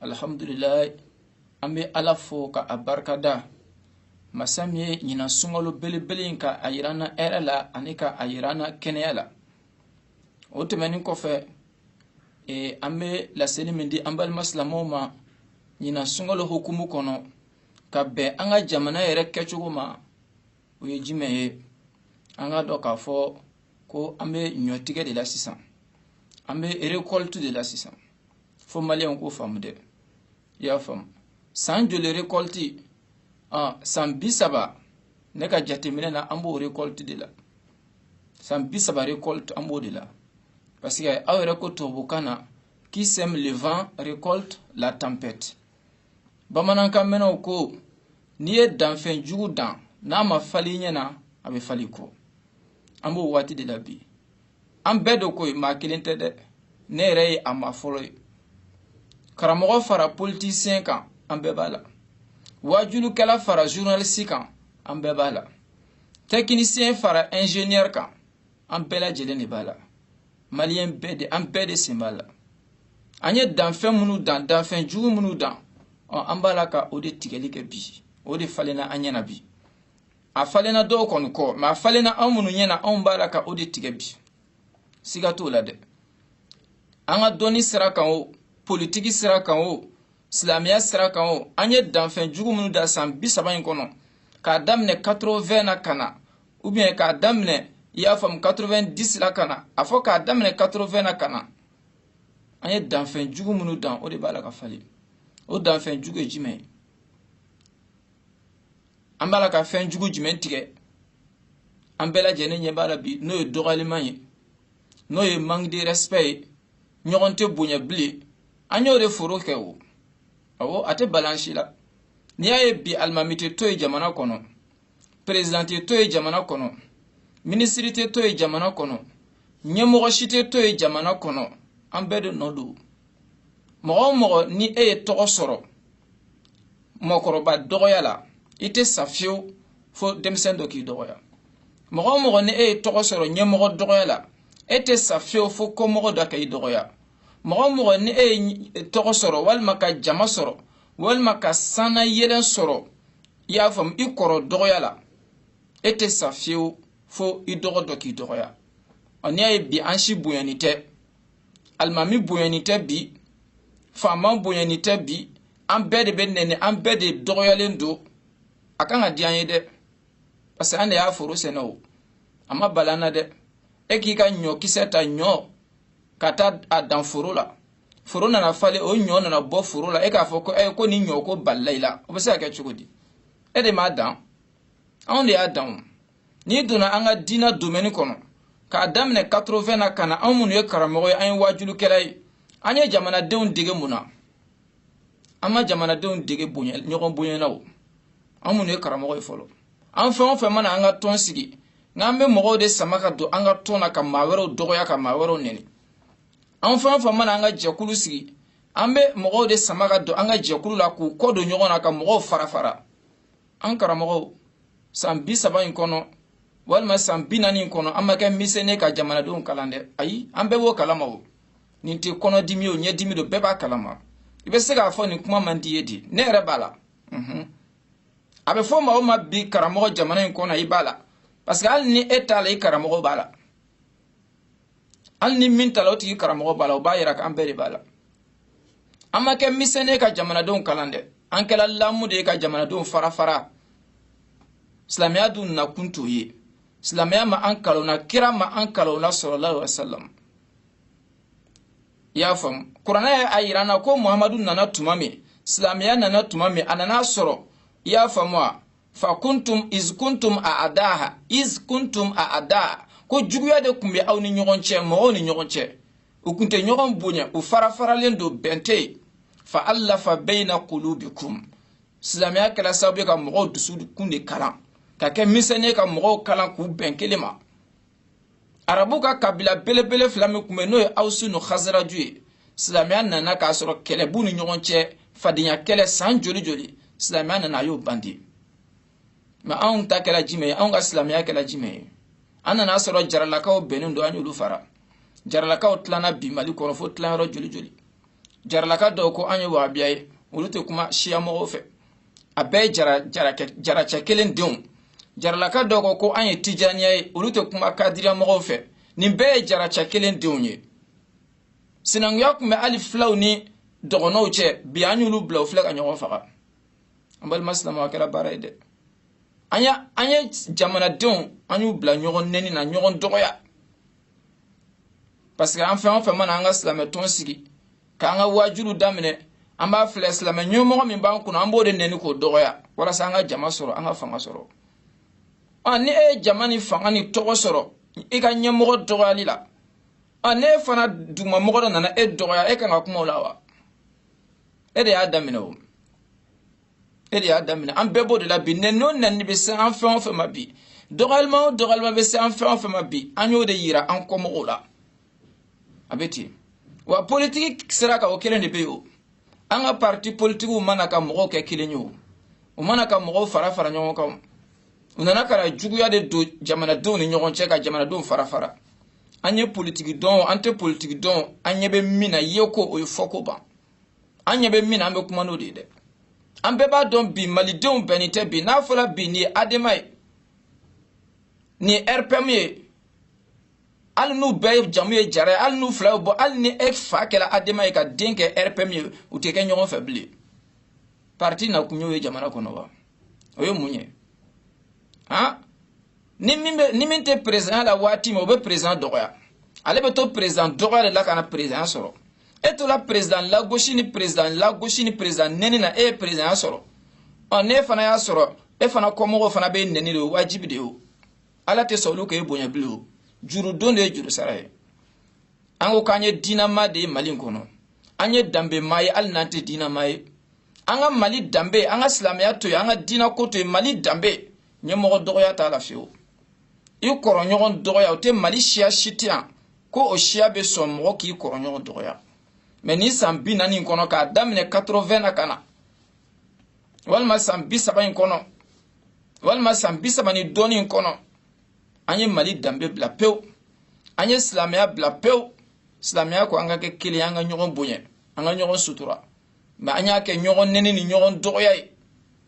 alhamdulilayi an bɛ ala fo ka a barikada masa min ye ɲinan sunkalo belebele in ka a yira an na hɛrɛ la ani ka a yira an na kɛnɛya la o tɛmɛnin kɔfɛ e, an bɛ laseli min di an balima silamɛw ma ɲinan sunkalo hukumu kɔnɔ ka bɛn an ka jamana yɛrɛ kɛcogo ma o ye jumɛn ye an k'a dɔn k'a fɔ ko an bɛ ɲɔtigɛ de la sisan an bɛ récolte de la sisan fo maliyɛnw k'o faamu dɛ i y'a faamu san joli récolte ah, san bi saba ne ka jateminɛ na an b'o récolte de la san bi saba récolte an b'o de la parce que aw yɛrɛ ko tubabukan na qui sème le vent récolte la tempête bamanankan mɛnɛw ko n'i ye danfɛn jugu dan n'a ma falen i ɲɛ na a bɛ falen i kɔ an b'o waati de la bi an bɛɛ de ko ye maa kelen tɛ dɛ ne yɛrɛ ye a maa fɔlɔ ye karamɔgɔ fara politisiyɛn kan an bɛɛ b'a la waajulikɛla fara journaliste kan an bɛɛ b'a la tɛkinisiyɛn fara ingénieur kan an bɛɛ lajɛlen de b'a la maliyɛn bɛɛ de an bɛɛ de sen b'a la an ye danfɛn minnu dan danfɛn jugu minnu dan an b'a la ka o de tigɛli kɛ bi o de falenna an ɲɛna bi a falenna dɔw kɔni kɔ mais a falenna anw minnu ɲɛna anw b'a la ka o de tigɛ bi siga t'o la dɛ an ka dɔnni sira kan o politiki sira kan o silamɛya sira kan o an ye danfɛn jugu minnu dan san bi saba in kɔnɔ k'a daminɛ 80 na ka na ou bien k'a daminɛ i y'a faamu 90 la ka na a fɔ k'a daminɛ 80 na ka na an ye danfɛn jugu minnu dan o de b'a la ka falen o danfɛn jugu ye jumɛn ye an b'a la ka fɛn jugu jumɛn tigɛ an bɛɛ lajɛlen ɲɛ b'a la bi n'o ye dɔgɔyaliman ye n'o ye manque de respect ye ɲɔgɔn tɛ bonya bilen an y'o de foro kɛ o awɔ a tɛ bala an si la n'i y'a ye bi alimami tɛ to ye jamana kɔnɔ président tɛ to ye jamana kɔnɔ minisiri tɛ to ye jamana kɔnɔ ɲɛmɔgɔ si tɛ to ye jamana kɔnɔ an bɛɛ de nɔ don mɔgɔ o mɔgɔ ni e ye tɔgɔ sɔrɔ mɔgɔkɔrɔba dɔgɔya la i tɛ sa fiyewu fo denmisɛn dɔ k'i dɔgɔya mɔgɔ o mɔgɔ ni e ye tɔgɔ sɔrɔ ɲɛmɔgɔ dɔgɔya la e tɛ sa fiyewu fo kɔmɔgɔ dɔ ka i dɔgɔya mɔgɔ o mɔgɔ ni e ye tɔgɔ sɔrɔ walima ka jama sɔrɔ walima ka sannayɛlɛn sɔrɔ i y'a faamu i kɔrɔ dɔgɔya la e tɛ sa fiyewu fo i dɔgɔ dɔ k'i dɔgɔya ɔ n'i y'a ye bi an si bonyani tɛ alimami bonyani tɛ bi faama bonyani tɛ bi an bɛɛ de bɛ nɛni an bɛɛ de dɔgɔyalen don a kan ka diya an ye dɛ parce que an de y'a foro sɛnɛ o a ma bala an na dɛ e k'i ka ɲɔkisɛ ta ɲɔ ka taa a dan foro la foro nana falen o ɲɔ nana bɔ foro la e k'a fɔ ko ko ni ɲɔ ko balila i la o bɛ se ka kɛ cogo di e de m'a dan anw de y'a dan o n'i donna an ka diinɛ domaine kɔnɔ k'a daminɛ 80 na ka na anw minnu ye karamɔgɔ ye an ye waajulikɛla ye an ye jamanadenw dege mun na an ma jamanadenw dege bonya ɲɔgɔn bonya na o an minnu ye karamɔgɔ ye fɔlɔ an fɛn o fɛn mana an ka tɔn sigi n'an bɛ mɔgɔw de sama ka don an ka tɔn na ka maa wɛrɛw dɔgɔya ka maa wɛrɛw nɛni anw fɛn o fɛn mana an ka jɛkulu sigi an bɛ mɔgɔw de sama ka don an ka jɛkulu la k'u kɔ don ɲɔgɔn na ka mɔgɔw fara fara an karamɔgɔw san bi saba in kɔnɔ walima san bi naani in kɔnɔ an ma kɛ misɛni ka jamanadenw kalan dɛ ayi an bɛɛ b'o kalama o nin tɛ kɔnɔdimi o ɲɛdimi don bɛɛ b'a kalama i bɛ se k'a fɔ nin kuma man di ye di ne yɛrɛ b'a la a bɛ fɔ maa o maa ma bi karamɔgɔ jamana in kɔnɔ i b'a la parce que hali ni e t'a la i karamɔgɔ b'a la hali ni min t'a la o tigi karamɔgɔ b'a la o b'a yira k'an bɛɛ de b'a la an ma kɛ misɛni ye ka jamanadenw kalan dɛ an kɛla lamu de ye ka jamanadenw fara fara silamɛya dun nakun t'o ye silamɛya ma an kalan o na kira ma an kalan o na sallallahu alaihi wasallam i y'a faamu kuranɛ y'a yira an na ko muhamadu nana tuma min silamɛya nana tuma min a nana a sɔrɔ i y'a faamu wa fa kuntum iz kuntum a'daha iz kuntum a'daha ko juguya de kun bɛ aw ni ɲɔgɔn cɛ mɔgɔw ni ɲɔgɔn cɛ u kun tɛ ɲɔgɔn bonya u fara faralen don bɛn tɛ yen fa allafa bayna qulubikum silamɛya kɛla sababu ye ka mɔgɔw dusukun de kalan ka kɛ misɛni ye ka mɔgɔw kalan k'u bɛn kelen ma arabu ka kabila belebele fila min kun bɛ n'o ye awusu ni hazaraju ye silamɛya nana k'a sɔrɔ kɛlɛ b'u ni ɲɔgɔn cɛ fadenya kɛlɛ san joli joli silamɛya nana a y'o ban di mais anw ta kɛla jumɛn ye anw ka silamɛya kɛla jumɛn ye an nana a sɔrɔ jaralakaw bɛnnen don an y'olu fara jaralakaw tilana bi mali kɔnɔ fo tilayɔrɔ joli joli jaralaka dɔw ko an ye wahabiya ye olu tɛ kuma siya mɔgɔw fɛ a bɛɛ ye jara jara jaracɛ kelen denw jaralaka dɔw ko ko an ye tijaniya ye olu tɛ kuma kadiriya mɔgɔw fɛ nin bɛɛ ye jaracɛ kelen denw ye sinankunya kun bɛ hali filaw ni dɔgɔnɔw cɛ bi an y'olu bila u filɛ ka ɲɔgɔn faga an balima silamɛw a kɛra baara ye dɛ an ye an ye jamanadenw an y'u bila ɲɔgɔn nɛni na ɲɔgɔn dɔgɔya parce que an fɛn o fɛn mana an ka silamɛ tɔn sigi k'an ka wajuliw daminɛ an b'a filɛ silamɛ ɲɛmɔgɔ min b'an kunna an b'o de nɛni k'o dɔgɔya walasa an ka jama sɔrɔ an ka fanga sɔrɔ ɔ ni e ye jama ni fanga ni tɔgɔ sɔrɔ i ka ɲɛmɔgɔ dɔgɔyali la ɔ n'e fana dugumamɔgɔ dɔ nana e dɔgɔya e kan ka kuma o la wa e de y'a daminɛ o e de y'a daminɛ an bɛɛ b'o de la bi nɛni o nɛni bɛ se an fɛn o fɛn ma bi dɔgɔyalima o dɔgɔyalima bɛ se an fɛn o fɛn ma bi an y'o de yira an kɔmɔgɔw la a bɛ ten wa politiki sira kan o kelen de bɛ yen o an ka parti politikiw ma na ka mɔgɔw kɛ kelen ye o u ma na ka mɔgɔw fara fara ɲɔgɔn kan u nana ka na juguya de don jamanadenw ni ɲɔgɔn cɛ ka jamanadenw fara fara an ye politiki dɔn an tɛ politiki dɔn an ɲɛ bɛ min na ye ko o ye fɔ ko ban an ɲɛ bɛ min na an bɛ kuma n'o de ye dɛ an bɛɛ b'a dɔn bi malidenw bɛnnen tɛ bi n'a fɔra bi nin ye adema ye nin ye rpm ye hali n'u bɛɛ jamu ye jara ye hali n'u fila ye bɔ hali ni e fa kɛra adema ye ka den kɛ rpm ye u tɛ kɛ ɲɔgɔn fɛ bilen parti na kun y'o ye jamana kɔnɔ wa o ye mun ye han ni min bɛ ni min tɛ présidentya la waati min o bɛ président dɔgɔya ale bɛ to président dɔgɔya de la ka na président sɔrɔ e tola président lagosi ni président lagosi ni président nɛni na e ye présidentya sɔrɔ ɔ n'e fana y'a sɔrɔ e fana kɔmɔgɔw fana b'e nɛni de o wajibi de ye o ala tɛ sɔn olu k'e bonya bilen o juru don de ye juru sara ye an ko k'an ye diinama de ye mali kɔnɔ an ye danbema ye hali n'an tɛ diinama ye an ka mali danbe an ka silamɛya to yen an ka diina ko to yen mali danbe ɲɛmɔgɔ dɔgɔya t'a la fiyewu i kɔrɔɲɔgɔn dɔgɔya o tɛ mali siya si tɛ yan ko o siya bɛ sɔn mɔgɔ k'i kɔrɔɲɔgɔn dɔgɔya mɛ ni san bi naani kɔnɔ k'a daminɛ 80 na ka na walima san bi saba in kɔnɔ walima san bi saba ni dɔɔni in kɔnɔ an ye mali danbe bila pewu an ye silamɛya bila pewu silamɛya ko an ka kɛ kelen an ka ɲɔgɔn bonya an ka ɲɔgɔn sutura mɛ an y'a kɛ ɲɔgɔn nɛni ni ɲɔgɔn dɔgɔya ye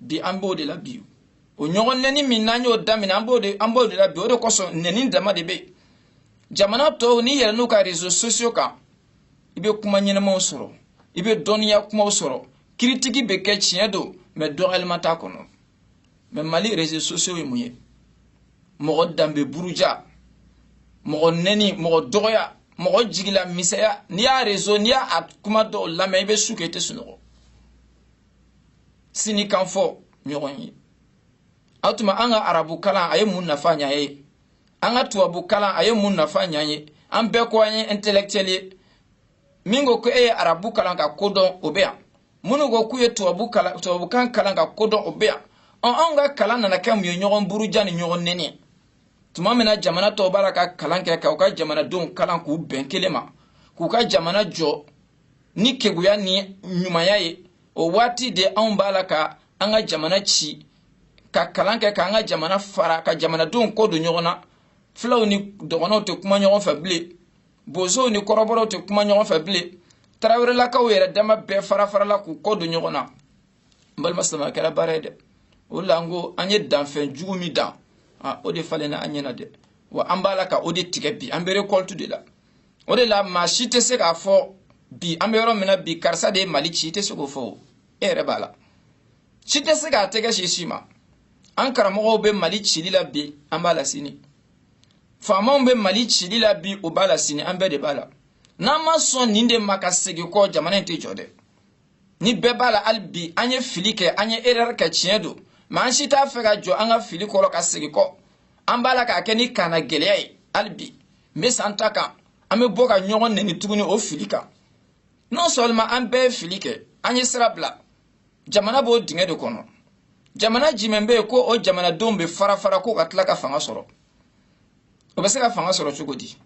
bi an b'o de la bi o ɲɔgɔn nɛni min n'an y'o daminɛ an b'o de an b'o de la bi o de kosɔn nɛni dama de bɛ yen jamana tɔw n'i yɛlɛnn'u ka réseaux sociaux kan i bɛ kuma ɲɛnamaw sɔrɔ i bɛ dɔnniya kumaw sɔrɔ kiritiki bɛ kɛ tiɲɛ don mɛ dɔgɔyalima t'a kɔnɔ mɛ mali réseaux sociaux ye mun ye mɔgɔ danbe buruja mɔgɔ nɛni mɔgɔ dɔgɔya mɔgɔ jigilamisɛnya n'i y'a réseau n'i y'a kuma dɔw lamɛn i bɛ su kɛ i tɛ sunɔgɔ sini kan fɔ ɲɔgɔn ye o tuma an ka arabu kalan a ye mun nafa ɲ'an ye an ka tubabu kalan a ye mun nafa ɲ'an ye an bɛɛ ko an ye intellectuel ye min ko ko e ye arabu kalan ka ko dɔn o bɛ yan minnu ko k'u ye tubabukan kalan ka ko dɔn o bɛ yan ɔn anw ka kalan nana kɛ mun ye ɲɔgɔn buruja ni ɲɔgɔn nɛni ye tuma min na jamana tɔw b'a la ka kalan kɛ ka u ka jamanadenw kalan k'u bɛn kelen ma k'u ka jamana jɔ ni keguya ni ɲumanya ye o waati de anw b'a la ka an ka jamana ci ka kalan kɛ k'an ka jamana fara ka jamanadenw kɔ don ɲɔgɔn na filaw ni dɔgɔnɔw tɛ kuma ɲɔgɔn fɛ bilen bozow ni kɔrɔbɔrɔw tɛ kuma ɲɔgɔn fɛ bilen tarawelelakaw yɛrɛ dama bɛɛ farafarala k'u kɔ don ɲɔgɔn na n balima silamɛ kɛra baara ye dɛ o la n ko an ye danfɛn jugu min dan o de falenna an ɲɛna dɛ wa an b'a la ka o de tigɛ bi an bɛ récolte de la o de la maa si tɛ se k'a fɔ bi an bɛ yɔrɔ min na bi karisa de ye mali ci i tɛ se k'o fɔ o e yɛrɛ b'a la si tɛ se k'a tɛgɛ sin si ma an karamɔgɔw bɛ mali cili la bi an b'a la sini faamaw bɛ mali cili la bi o b'a la sini an bɛɛ de b'a la n'an ma sɔn nin de ma ka segin kɔ jamana in tɛ jɔ dɛ ni bɛɛ b'a la hali bi an ye fili kɛ an ye erreur kɛ tiɲɛ don mais an si t'a fɛ ka jɔ an ka fili kɔrɔ ka segin kɔ an b'a la k'a kɛ ni kannagɛlɛya ye hali bi n bɛ san ta kan an bɛ bɔ ka ɲɔgɔn nɛni tuguni o fili kan non seulement an bɛɛ ye fili kɛ an ye sira bila jamana b'o dingɛ de kɔnɔ jamana jumɛn bɛ yen ko o jamanadenw bɛ fara fara ko ka tila ka fanga sɔrɔ o bɛ se ka fanga sɔrɔ cogo di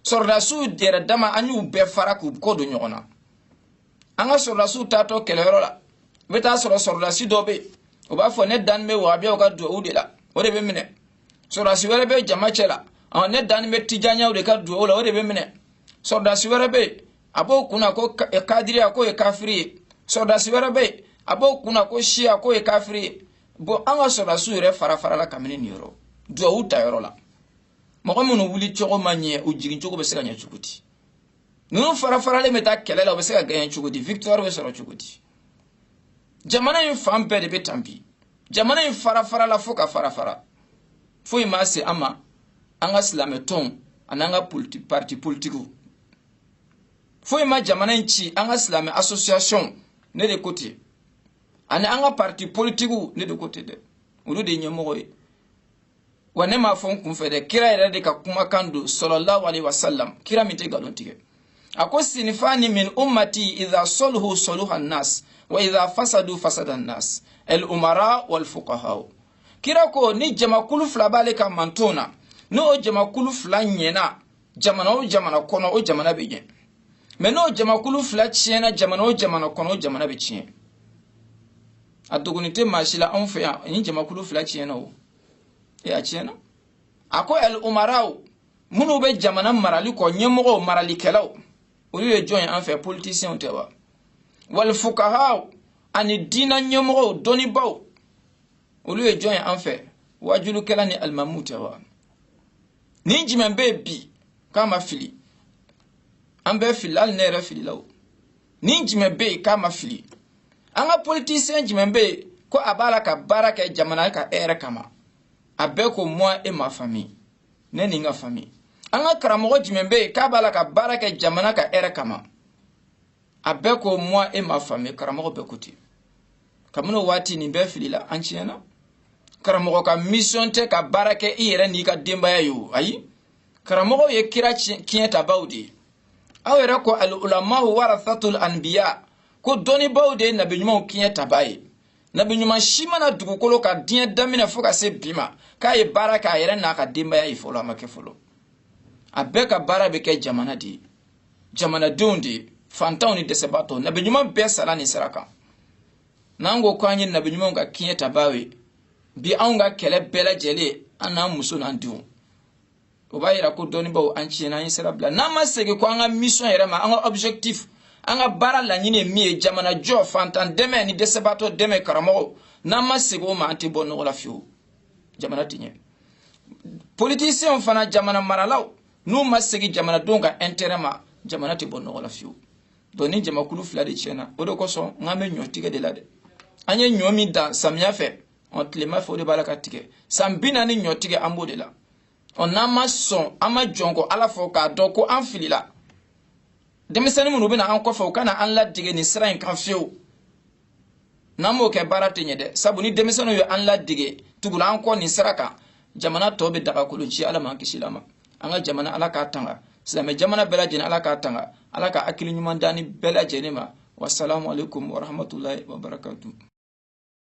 sɔrɔdasiw yɛrɛ dama an y'u bɛɛ fara k'u kɔ don ɲɔgɔn na an ka sɔrɔdasiw taatɔ kɛlɛyɔrɔ la i bɛ taa sɔrɔ sɔrɔdasi dɔ bɛ yen o b'a fɔ ne dan bɛ wahabiyaw ka duwawu de la o de bɛ minɛ sɔrɔdasi wɛrɛ bɛ jama cɛ la ne dan bɛ tijanyaw de ka duwawu la o de bɛ minɛ sɔrɔdasi wɛrɛ bɛ yen a b'o kunna ko kadiriya k'o ye kafiri ye sɔrɔdasi wɛrɛ bɛ yen a b'o kunna ko siya k'o ye kafiri ye bon an ka sɔrɔdasiw yɛrɛ fara farala kabini nin yɔrɔ duwawu ta yɔrɔ la mɔgɔ minnu wuli cogo ma ɲɛ u jigin cogo bɛ se ka ɲɛ cogo di ninnu fara faralen bɛ taa kɛlɛ la u bɛ se ka gagner cogo di victoire bɛ sɔrɔ cogo di jamana in fan bɛɛ de bɛ tan bi jamana in fara farala fo ka fara fara foyi ma se an ma an ka silamɛ tɔnw an'an ka parti politikiw foyi ma jamana in ci an ka silamɛ association ne de ko ten ani an ka parti politikiw ne de ko ten dɛ olu de ye ɲɛmɔgɔ ye wa ne m'a fɔ n kunfɛ dɛ kira yɛrɛ de ka kumakan don sallallahu alaihi wasallam kira min tɛ nkalon tigɛ a ko sinifani min ummati idha soluhu soluha nas wa idha fasadu fasada nas el umara wal fuqahaw kira ko ni jamakulu fila b'ale ka manton na n'o jamakulu fila ɲɛna jamana o jamana kɔnɔ o jamana bɛ ɲɛ mais n'o jamakulu fila tiɲɛna jamana o jamana kɔnɔ o jamana bɛ tiɲɛ a dogoni tɛ maa si la anw fɛ yan nin jamakulu fila tiɲɛna o e a tiɲɛna a ko el umaraw minnu bɛ jamana marali kɔ ɲɛmɔgɔw maralikɛlaw olu ye jɔn ye an fɛ politisiɲɛw tɛ wa wal fuqahaw ani diina ɲɛmɔgɔw dɔnnibaw olu ye jɔn ye an fɛ wajulikɛla ni alimamuw tɛ wa ni jumɛn bɛ yen bi k'a ma fili an bɛ fili hali ne yɛrɛ filila o ni jumɛn bɛ yen k'a ma fili an ka politisiyɛn jumɛn bɛ yen ko a b'a la ka baara kɛ jamana ka hɛrɛ kama a bɛɛ ko moi et ma famille ne ni n ka famille an ka karamɔgɔ jumɛn bɛ yen k'a b'a la ka baara kɛ jamana ka hɛrɛ kama a bɛɛ ko moi et ma famille karamɔgɔ bɛɛ ko ten kabini o waati nin bɛɛ filila an tiɲɛna karamɔgɔ ka mission tɛ ka baara kɛ i yɛrɛ n'i ka denbaya ye o ayi karamɔgɔw ye kira kiɲɛtabaw de ye aw yɛrɛ ko al ulamahu warathatul anbiya ko dɔnnibaaw de ye nabi ɲumanw kiɲɛtaba ye nabi ɲuman si ma na dugukolo kan diɲɛ daminɛ fo ka se bi ma k'a ye baara kɛ a yɛrɛ n'a ka denbaya ye fɔlɔ a ma kɛ fɔlɔ a bɛɛ ka baara bɛ kɛ jamana de ye jamanadenw de ye fantanw ni dɛsɛbaatɔw nabi ɲuman bɛɛ sara nin sira kan n'an ko ko an ye nabi ɲumanw ka kiɲɛtabaaw ye bi anw ka kɛlɛ bɛɛ lajɛlen an n'an muso n'an denw o b'a yira ko dɔnnibaw an tiɲɛna an ye sira bila n'an ma segin ko an ka mission yɛrɛ ma an ka objectif an ka baara laɲini ye min ye jamana jɔ fantan dɛmɛ ni dɛsɛbaatɔ dɛmɛ karamɔgɔw n'an ma segin o ma an tɛ bɔ nɔgɔ la fiyewu jamana tɛ ɲɛ politisiyɛnw fana jamana maralaw n'u ma segin jamanadenw ka intérêt ma jamana tɛ bɔ nɔgɔ la fiyewu donc nin jamakulu fila de tiɲɛna o de kosɔn n k'an bɛ ɲɔ tigɛ de la dɛ an ye ɲɔ min dan samiya fɛ ɔ tilema fɛ o de b'a la ka tigɛ san bi naani ɲɔ tigɛ an b'o de la ɔ n'an ma sɔn an ma jɔn ko ala fɔ k'a dɔn ko an filila denmisɛnnin minnu bɛ na an kɔfɛ u kana an ladege nin sira in kan fiyewu n'an m'o kɛ baara tɛ ɲɛ dɛ sabu ni denmisɛnninw ye an ladege tugula an kɔ nin sira kan jamana tɔ bɛ daga kolon ci ala m'an kisila a ma an ka jamana ala k'a tanga silamɛ jamana bɛɛ lajɛlen ala k'a tanga ala ka hakili ɲuman d'an ni bɛɛ lajɛlen ma wasalamu alaikum warahmatulahi wabarakatu